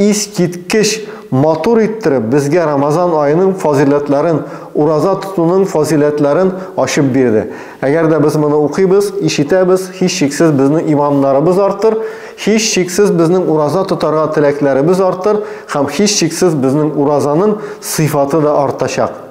Искиткеч матур иттереп безгә Рамазан аеның фазыйләтләрен, ураза тотуның фазыйләтләрен ачып бирде. Әгәр дә без моны укыйбыз, ишетәбез, һичшиксез безнең иманнарыбыз артыр, һичшиксез безнең ураза тотарга теләкләребез артыр һәм һичшиксез безнең уразаның сыйфаты да артачак.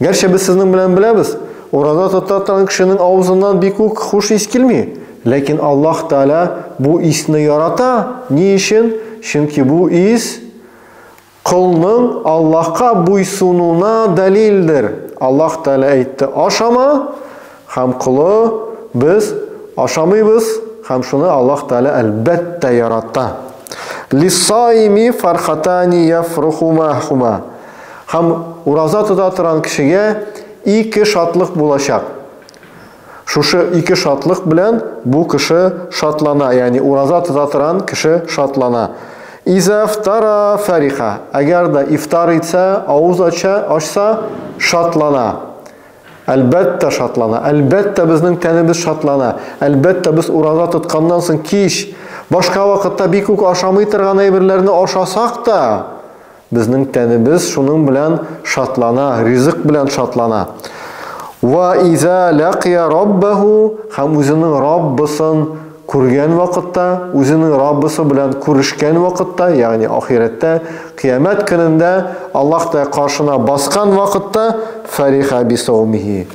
Гәрчә без сезнең белән беләбез, ураза тота торган кешенең авызыннан бик үк хуш ис килми. Ләкин Аллаһ Тәгалә бу исне ярата. Ни өчен? Чөнки бу ис колның Аллаһка буйсынуына дәлилдер. Аллаһ Тәгалә әйтте, Ашама, Һәм колы, без, ашамыйбыз, һәм шуны Аллаһ Тәгалә, әлбәттә, ярата. Лиссаими фархатани яфрухумахума Һәм ураза тота торган кешегә ике шатлык булачак. Шушы ике шатлык белән бу кеше шатлана, ягъни ураза тота торган кеше шатлана. Иза фтара фәриха Әгәр дә ифтар итсә, авыз ача, ачса, шатлана. Әлбәттә, шатлана. Әлбәттә, безнең тәнебез шатлана. Әлбәттә, без ураза тотканнан соң кич, башка вакытта бик үк ашамый торган әйберләрне ашасак та, безнең тәнебез шуның белән шатлана, ризык белән шатлана. Ва иза ләкия раббәһу һәм үзенең Раббысын Күргән вакытта, үзенең Раббысы белән күрешкән вакытта, ягъни ахирәттә, кыямәт көнендә Аллаһ Тә каршына баскан вакытта, фәриха бисаумихи,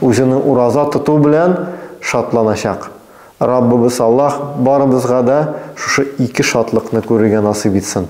үзенең ураза тоту белән шатланачак. Раббыбыз Аллаһ барыбызга да шушы ике шатлыкны күрергә насыйп итсен.